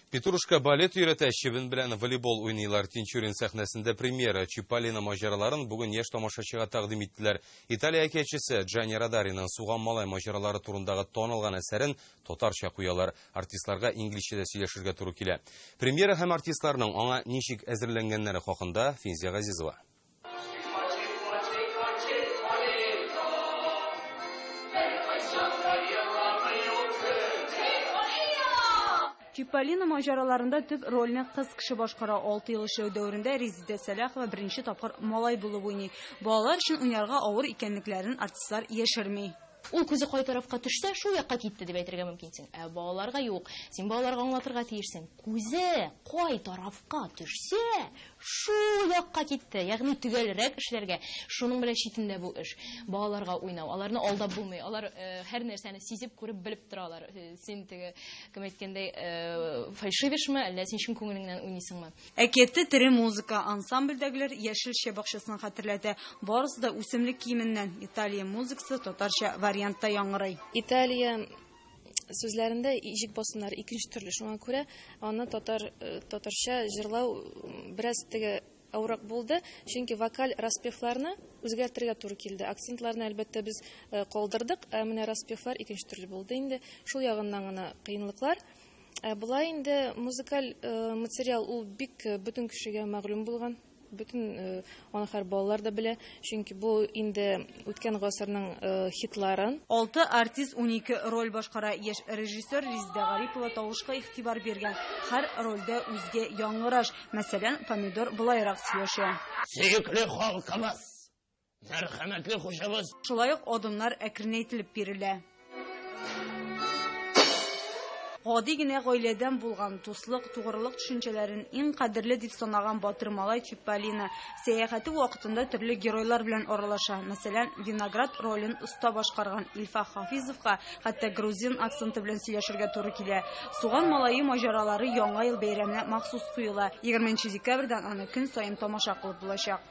Петрушка балет өйрәтә, чебен белән волейбол уйныйлар. Тинчурин сәхнәсендә премьера Чиполлино маҗараларын бүген яшь тамашачыга тәкъдим иттеләр. Италия әкиятчесе Джани Радариның Суган малай маҗаралары турындагы танылган әсәрен татарча куялар. Артистларга инглизчә дә сөйләшергә туры килә. Премьера һәм артистларның аңа ничек әзерләнгәннәре хакында Финзия Газизова. Чиполлино маҗараларында төп рольне кыз кеше башкара. Алты ел эшләү дәверендә Резидә Сәлахова беренче тапкыр малай булып уйный. Балалар өчен уйнарга авыр икәнлекләрен артистлар яшерми. Ул күзе кай тарафка төшсә, шул якка китте, дип әйтергә мөмкинсең. Ә балаларга юк. Син балаларга аңлатырга тиешсең. Күзе кай тарафка төшсә, шул якка китте. Ягъни төгәлрәк эшләргә. Шуның белән читендә бу эш. Балаларга уйнау. Аларны алдап булмый. Алар һәр нәрсәне сизеп, күреп, белеп торалар. Син теге, кем әйткәндәй, фальшивишме, әллә син чын күңелеңнән уйныйсыңмы? Әкияттә тере музыка. Ансамбльдәгеләр Яшел чә бакчасын хәтерләтә. Барысы да үсемлек киеменнән. Италия музыкасы татарча вариантта яңгырый. Италия сүзләрендә иҗек басымнары икенче төрле, шуңа күрә аны татар татарча җырлау бераз теге авырак булды, чөнки вокаль распевларны үзгәртергә туры килде. Акцентларны, әлбәттә, без калдырдык, ә менә распевлар икенче төрле булды инде. Шул ягыннан гына кыенлыклар. Ә болай инде музыкаль э, материал ул бик э, бөтен кешегә мәгълүм булган бөтен э, аны хәр балалар да белә чөнки бу инде үткән гасырның э, хитларын алты артист унике роль башкара яшь режиссер риздә гарипова тавышка игътибар биргән һәр рольдә үзгә яңгыраш мәсәлән помидор былайрак сөйләшә сөекле халкыбыз Мәрхәмәтле хушыбыз. Шулай ук адымнар әкренәйтелеп бирелә. Гади генә гаиләдән булган дуслык, тугрылык төшенчәләрен иң кадерле дип санаган батыр малай Чиполлино сәяхәте вакытында төрле геройлар белән аралаша. Мәсәлән, Виноград ролен оста башкарган Илфа Хафизовка хәтта грузин акценты белән сөйләшергә туры килә. Суган малае маҗаралары Яңа ел бәйрәменә махсус куела. 20 декабрьдән аны көн саен тамаша кылып булачак.